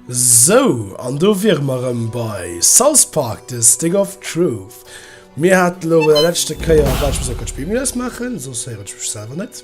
Sou, an do wiere mer erëm bei South Park, The Stick of Truth. Mir haten elo bei der leschte Kéier, wat ech muss eng Kéier d'Spill méi lass maachen, soss héieren ech mech selwer net.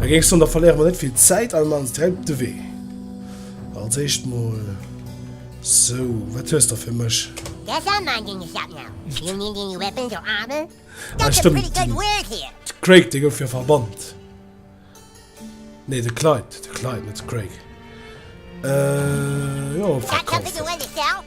An géinks dun, da verléiere mer net vill Zäit an man direkt de Wee. Als éischt mol sou, wat hues de fir mech? Ah stëmmt, den Craig, dee gouf jo verbannt. Nee, de Clyde, de Clyde, net de Craig. Äh, jo, verkaufen.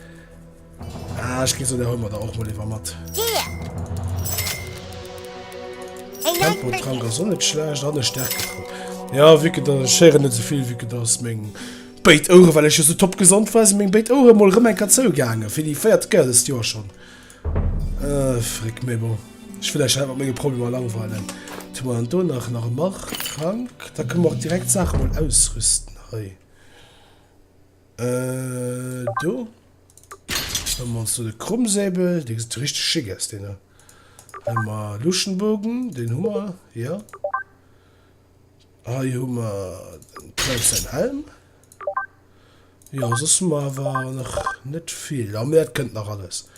Ah, ich ging so der Hummer da auch mal lieber matt. Tempo dran, da so nicht schlecht, dann eine Stärke dran. Ja, wirklich, da schere nicht so viel, wirklich, das ist mein Bait Ohren, weil ich so top gesund war, ist mein Bait Ohren mal rum ein Katze gegangen. Für die feiert Geld ist ja schon. Äh, frick mir mal. Ich will euch einfach meine Probleme langweilen. Tun wir dann da nach, nach Macht, Trank. Da können wir auch direkt Sachen mal ausrüsten. Hey. Äh, do. Hun mer ons do de Krummsäbel, dee gesit richteg schick aus, deen do. Hun mer Luschenbogen, deen hu mer, jo. Hei hu mer den Klaus säin Helm. Jo, soss hu mer awer nach net vill. Ah, mä dat kënnt nach alles.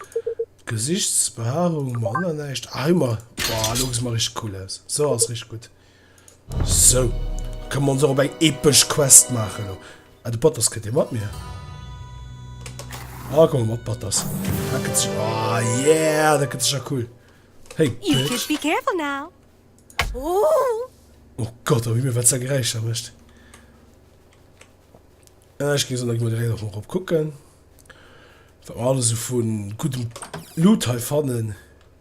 Gesichtsbehaarung hu mer och nach näischt. Ah, hei hu mer, boah, do gesi mer richteg cool aus. Sou ass richteg gutt. Sou, da kënne mer ons och op eng epesch Quest maachen elo. Ah, de Patters kënnt jo mat mir. Ah, komm mat, Patters. Dat gëtt sécher. Ah, yeah, dat gëtt sécher cool. Hey, Bitch. You should be careful now. Ooh. Oh Gott, am Himmel, wat sa Geräischer mécht. Äh, ech ginn se nach emol direkt och erop kucken, wat mer alles esou vu guddem Loot hei fannen.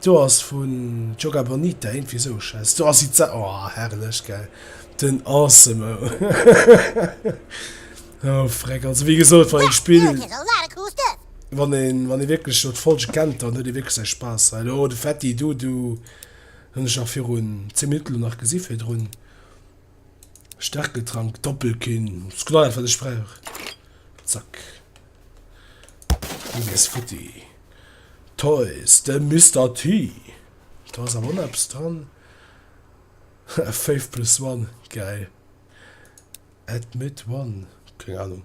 D'Do ass vun Joga Bonita, iergendwéi esou schéngt d'Do ass iza oh herrlech gell den Ensemble oh Freck also wéi gesot wann een d'Spill wann een wann ee wierklech elo d'Folge kennt dann huet ee wierklech säi Spaass hei elo de Fetti du du hunn ech nach virun 10 Minutten elo nach gesi virdrun. Stärketrank, Doppelkin. Das ist genau das, was ich brauche. Zack. Und ist futti. Toys, der Mr. T. Da ist aber noch etwas dran. 5 plus 1, geil. Admit 1, keine Ahnung.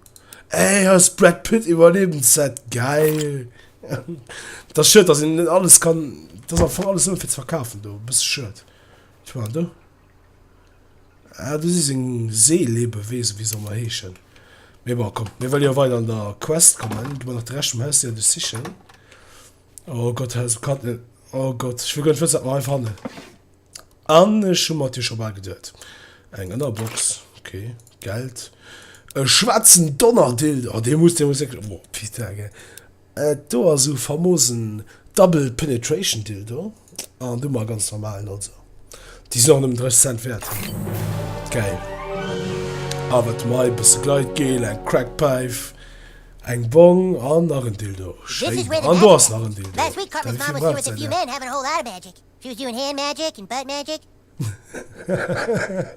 Ey, das Brad Pitt Überlebensset, geil. Das ist schön, dass ich nicht alles kann. Das ist einfach alles nur für zu verkaufen, du. Bist schön. Ich meine, du. Ah, do si seng Seelebeweesen, wéi se ëmmer heeschen. Mee bon, komm, mir wëlle jo weider an der Quest kommen. Ginn mer nach de Rescht vum Haus der Erde sichen. Oh Gott, Haus um Kandel. Oh Gott, ech wëll guer net wëssen, wat mer hei fannen. An ech hu mer et jo scho bal geduet. Eng Ënnerbox, okay, Geld. E schwaarzen Donnerdildo, oh, dee muss, dee muss wierklech, oh, Pizza, gell. Et do ass u famos en Double Penetration Dildo an du mar ganz normalen also déi sinn och nëmmen 30 Cent wäert. Gäil. A wat hu mer hei? Bësse Gleitgel, eng Crack Päif, eng Bong an nach en Dildo. Schéin. An do ass nach en Dildo. Merci villmools Sally. Hahahaha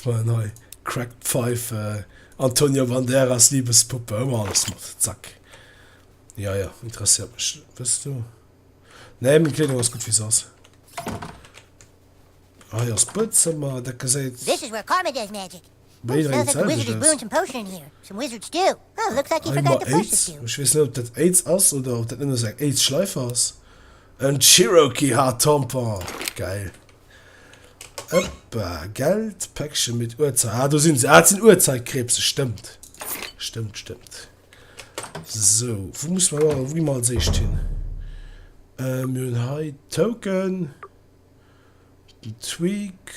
Voilà nei Crack Pfeife Antonio Banderas Liebespuppe ëmmer alles mat Zack Ja ja interesséiert mech wëss du Nee meng Kleedung ass gutt wéi se ass Hei ass Buedzëmmer dat geséit. This is where karma does magic. Wéi wéi zäit ech ass? Ech mer Aids, ech weess net op dat Aids ass oder op dat nëmme sou eng Aids Schleif ass. En Cherokee Hard Tampon, geil. Ëppa, gellt Päckche mit Uhrzei, ah do sinn se, ah dat sinn Uhrzeitkrebse, stëmmt, stëmmt, stëmmt. Sou, wou muss mer wou gi mer als éischt hin? Mir hunn hei Token, den Tweak.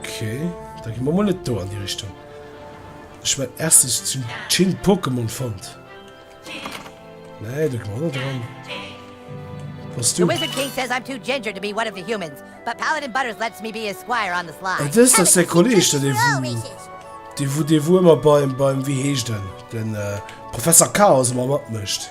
Okay, da gi mer mol net do an déi Richtung. Ech mein erstes zum Chill Pokémon fand. Nee, du komm net dran. Was du? Wizard King says I'm too ginger to be one of the humans, but Paladin Butters lets me be his squire on the sly. Et is das der Kolleg, der de wo, de wo, de wo immer beim, beim, wie heescht den, den äh, Professor Chaos immer matmëcht.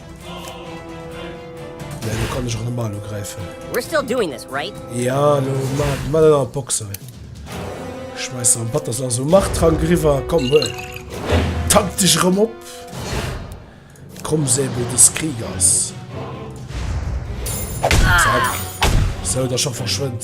Nee, lo kann ech och normal ugräifen. We're still doing this, right? Ja, lo ma den an d'Box hei. Schmeiß an Batter so also mach Trank riwer, komm huel. Tank dich rëm op. Komm Säbel des Kriegers. Zack. So, da schon verschwënnt.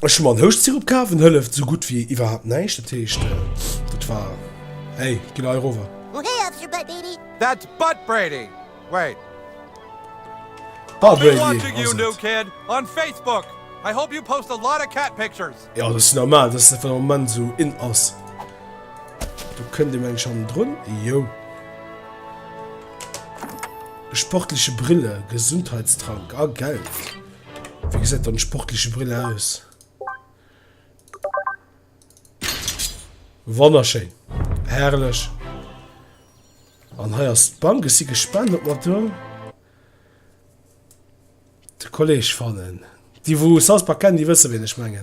Ech hu mer en Houschtsirup kaf, en hëlleft esou gutt wéi iwwerhaapt näischt. Dat heescht, dat war, hey, ginn hei erover. That's Butt Brady. Wait. I'll be watching you, new kid, on Facebook. I hope you post a lot of cat pictures. Jo, dat ass normal, dass dat den Ament esou in ass. Do kënnt ee mengt schonn drun. Jo. Sportliche Brille, Gesundheitstrank a Geld. Wéi gesäit dann d'sportleche Brill aus? Wonnerschéin, herrlech! An hei ass d'Bank. Ech si gespannt, ob mer do de Kolleg fannen. Déi, wou South Park kennen, déi wësse, wien ech mengen.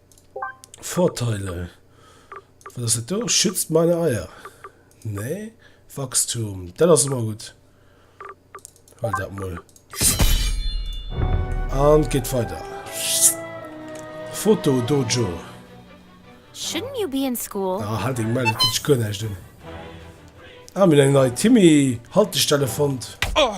Vorteile, wat ass dat do? Schützt meine Eier. Nee, Wachstum, dat ass ëmmer gutt. Hol dat mol. An geht weiter. Foto Dojo. Shouldn't you be in school? Ah, halt eng Melle, tut gar nicht. Ah, mir eng neue Timmy Haltestelle fand. Oh.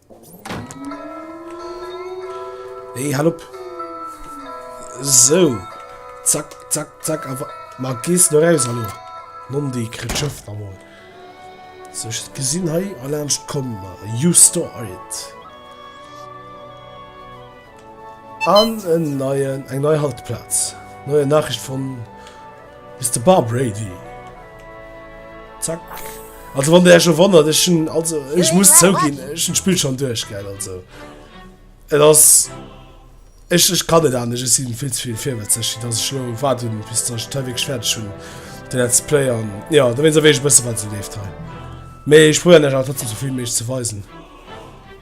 Nee, hal op. So. Zack, zack, zack. Aber mal gehst du raus, hallo. Mondi, kriegt Schiff da mal. So, ich gesehen, hey, allein kommen. You store it. An en neien, eng nei Haltplaz. Neue Nachricht von Mister Bar Brady. Zack. Also wann der Herr schon wandert, ich schon, also ich muss zougin ich schon Spiel schon durch gell also Et ass ich, ich kann net anescht, ech sinn vill ze vill virwëtzeg, dass ech lo waart hunn bis dass ech d'Tei wierklech fäerdeg hunn de Let's Play an ja da wéinst awer eech e bësse wat esou leeft hei. Mee ech probéieren iech awer trotzdem souvill wéi méiglech ze weisen.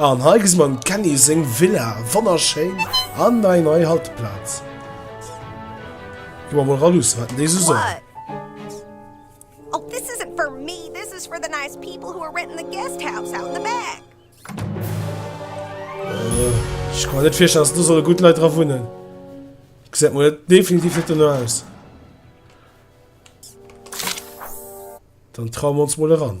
An hei gesi mer dem Kenny seng Villa, wonnerschéin an nei nei Halteplaz. Gi mer mol ra luusse wat en déi esou soll. Ech ka mer net virstellen, dass do solle gutt Leit dra wunnen. Gesäit mol definitiv net dono aus. Dann traue mer ons mol eran.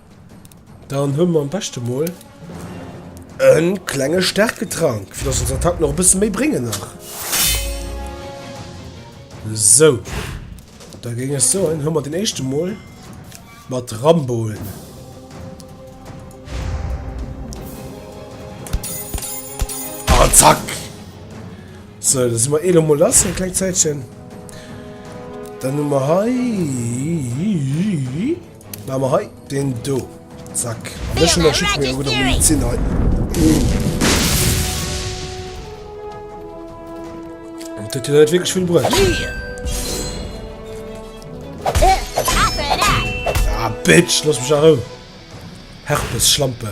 Dann hunn mer am beschte mol en klenge Stärketrank, fir dass ons Attacken och e bësse méi bréngen nach. Sou. Da géing ech soen, hu mer den éischte mol mat Ramboen. Ah, zack! So, da si mer elo mol lass, en kleng Zäitchen. Dann hu mer hei. Mä mer hei den do. Zack. An ech hun der Schied méi gutt am Medizin hei. Dat huet jo net wierklech vill bruecht. Ah, Bitch, looss mech a Rou. Herpes, Schlampe.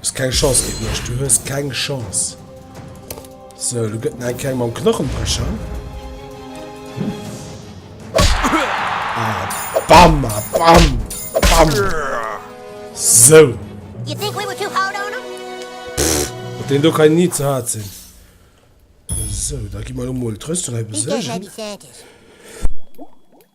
Hues keng Chance géint mech, du hues keng Chance. So, du gëtt eng keng mam Knochenbrecher. Ah, bam, ah, bam, bam. So. You think we were too hard on him? Den do kann nie zu hart sinn. So, da gi mer lo mol d'Rüstung hei beséigen.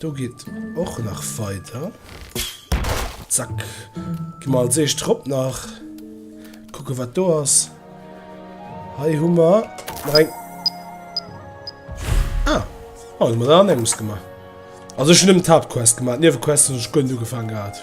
Do geet och nach weider. Zack. Gi mer als éischt drop nach. Kucke wat do ass. Hei hu mer eng. Ah, oh, mer an engems gemacht. Also schon dem Tabquest gemacht. Niewe Quest schon du gefangen gehabt.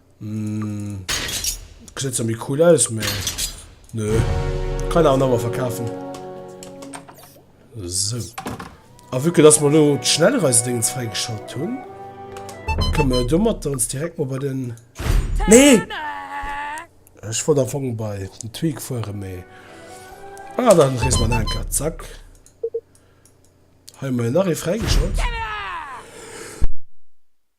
Hm. Gesäit zwar méi cool aus, mä. Nö. Kann awer awer verkafen. So. A vu que dass mer lo d'Schnellreisdéngs fräigeschalt hunn, kënne mer domat ons direkt mal bei den. Nee! Ech wollt am Fong bei den Tweak fuere, mä. Ah, dann rees mer nach eng Kéier. Zack. Hei hu mer jo nach ee fräigeschalt.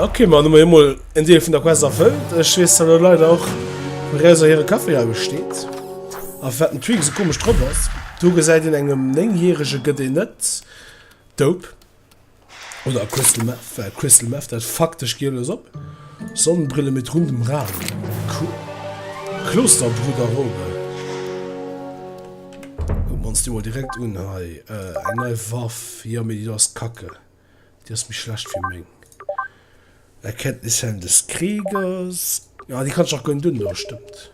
Ok man hun jo mol en Deel vun der Quest erfëllt. Ech wees dat der Leit och wou Räuser hire Café austét. A wat den Tweak esou komesch drop ass. Do gesäit een engem 9 järege gëtt een net Dope oder a Crystal Meth, well Crystal Meth dat faktesch giel ass op Sonnenbrille met rund um Rad. Cool. Klosterbruder Robe kucken mer ons déi mol direkt un hei. Eng nei Waff, jo mee déi do ass kacke. Déi ass méi schlecht wéi meng Erkenntnissen des Kriegers. Ah, déi kann ech och gönn dun do, stëmmt.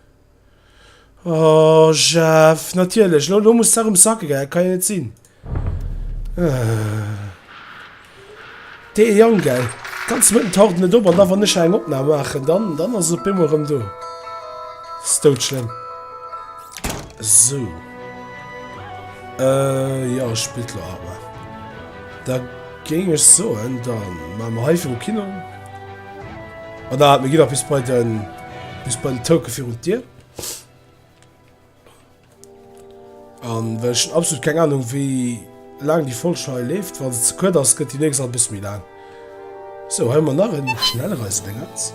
Oh, Jeff, natierlech. Lo, lo muss d'Sach ums Sacke gei, dat kann jo net sinn. Ah. Dee Jang, gell. Ganz mëtten taucht net op an da wann ech eng Opnam maachen, dann, dann ass e op eemol erëm do. Ass doudschlëmm. Esou. Äh, jo, spillt lo awer. Da géing ech soen, da maache mer hei viru Kino. An da hat mir giwer bis bei den, bis bei den Touke virun d'Dier. An well ech absolut keng Ahnung, wéi laang déi Folg hei leeft. Wa se ze kuerz ass, gëtt déi nächst nach e bësse méi laang. Sou, hei hu mer nach e Schnellreisedéngerts.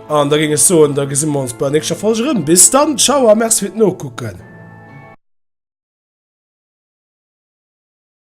An da géing ech soen, da gesi mer ons bei der nächster Folg erëm. Bis dann, tschau a merci fir d'Nokucken!